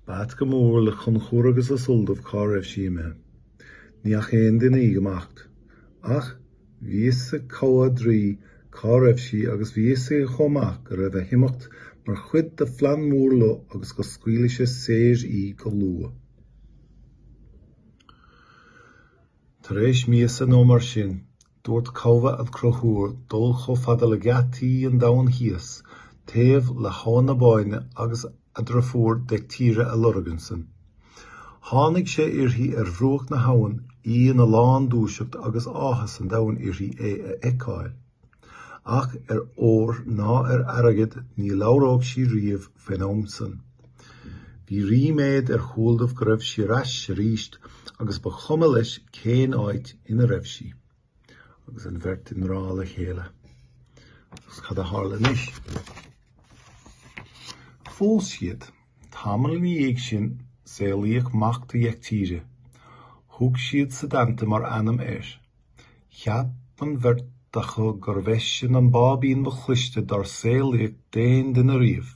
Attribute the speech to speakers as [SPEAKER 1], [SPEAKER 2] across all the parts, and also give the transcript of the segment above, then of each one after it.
[SPEAKER 1] B'ait go mór le Conchúr agus le Sualdamh cá raibh sí imithe. Ní fhaca aon duine í ag imeacht. Ach bhí fhios ag Cathbhadh Draoi cá raibh sí agus bhí fhios aige chomh maith go raibh a himeacht mar chuid de phlean mór Lugh agus go scaoilfeadh sé saor í go luath. Tar éis míosa nó mar sin, Dúirt Cathbhadh le Conchúr dul chomh fada le geataí an Domhain Thíos, taobh le hAbhainn na Bóinne agus a dheirfiúr Deictire a lorg ansin. Tháinig sé uirthi ar bhruach na habhann, í ina lándúiseacht agus áthas an domhain uirthi é a fheiceáil. Ach ar ór ná ar airgead ní labhródh sí riamh faoin am san. Bhí ríméad ar Shualdamh go raibh sí ar ais arís agus ba chuma leis cén áit ina raibh sí agus an bheirt i ngrá le chéile. Agus cad a tharla anois? Phós siad. Tamall ina dhiaidh sin, saolaíodh mac do Dheictire. Thug siad Setanta mar ainm air. Cheap an bheirt acu gurbh eisean an báibín ba chliste dár saolaíodh d'aon duine riamh.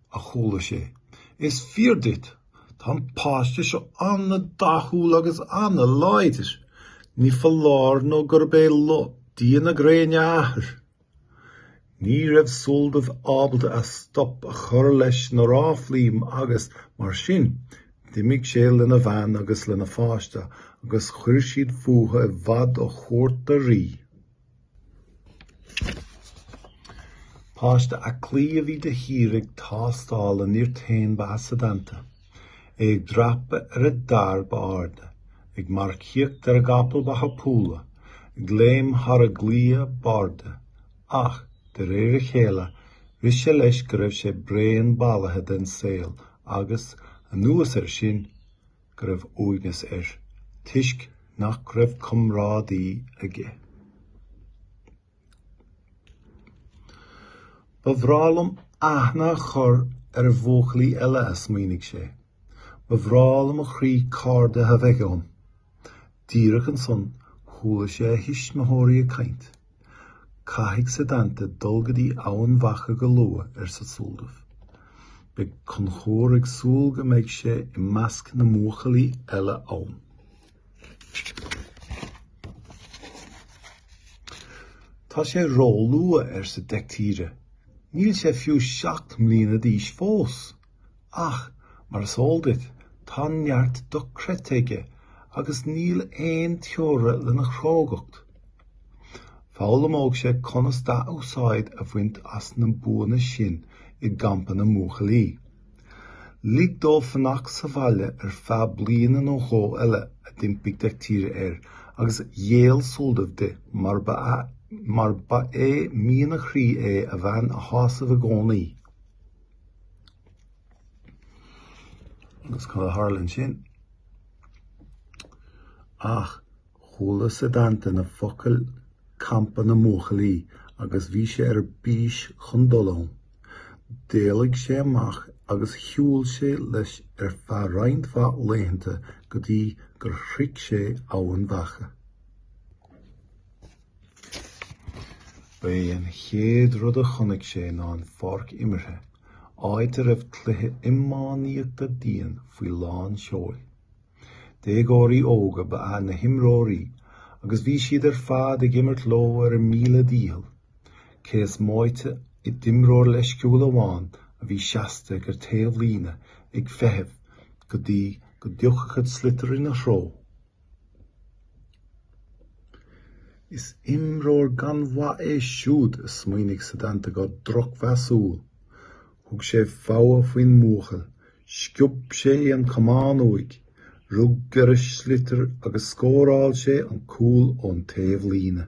[SPEAKER 1] a chuala sé. Is fíor duit, tá an páiste seo an-dathúil agus an-láidir. Ní foláir nó gurb é Lugh Dia na Gréine a athair. Ní raibh Sualdamh ábalta ar stop a chur leis na ráflaí agus, mar sin, d'imigh sé lena bhean agus lena pháiste agus chuir siad fúthu i bhfad ó chúirt an rí. Páiste aclaí a bhí de shíor ag tástáil a nirt féin ba ea Setanta. É ag dreapadh ar an dair ab airde, ag marcaíocht ar an gcapall ba thapúla, ag léim thar an gclaí ab airde. Ach, de réir a chéile, rith sé leis go raibh sé bréan bailithe den saol agus, anuas air sin, go raibh uaigneas air toisc nach raibh comrádaí aige. Ba bhreá liom aithne a chur ar bhuachaillí eile, a smaoinigh sé. Ba bhreá le mo chroí cairde a bheith agam. Díreach ansan chuala sé a thuismitheoirí ag caint. Caithfidh Setanta dul go dtí Eamhain Mhacha go luath, arsa Sualdamh. Beidh Conchúr ag súil go mbeidh sé i measc na mbuachaillí eile ann. Tá sé róluath, arsa Deictire. Níl sé fiú seacht mbliana d'aois fós. Ach, mar is eol duit, tá neart dochreidte aige agus níl aon teora lena chrógacht. Foghlaimeoidh sé conas dea-úsáid a bhaint as na buanna sin i gcampa na mbuachaillí. Lig dó fanacht sa bhaile ar feadh bliana nó dhó eile, a d'impigh Dechtire air, agus ghéill Sualdamh di, mar ba é mian a chroí é a bhean a shásamh i gcónaí. Cad a tharla ansin? Ach chuala Setanta na focail 'campa na mbuachaillí' agus bhí sé ar bís chun dul ann. D'éalaigh sé amach agus shiúil sé leis ar feadh roinnt mhaith laethanta go dtí gur shroich sé Eamhain Mhacha. Ba é an chéad rud a chonaic sé ná an pháirc imeartha, áit a raibh cluiche iománaíochta dian faoi lán seoil. Déagóirí óga ba ea na himreoirí agus bhí siad ar fad ag imirt leo ar a míle dícheall, cé is móite d'imreoir leisciúil amháin a bhí seasta ag an taobhlíne ag feitheamh go dtí go dtiocfadh an sliotar ina threo Is imreoir gan mhaith é siúd, a smaoinigh Setanta go drochmheasúil. Thug sé fogha faoin mbuachaill, sciob sé an camán uaidh, rug ar an sliotar agus scóráil sé an cúl ón taobhlíne.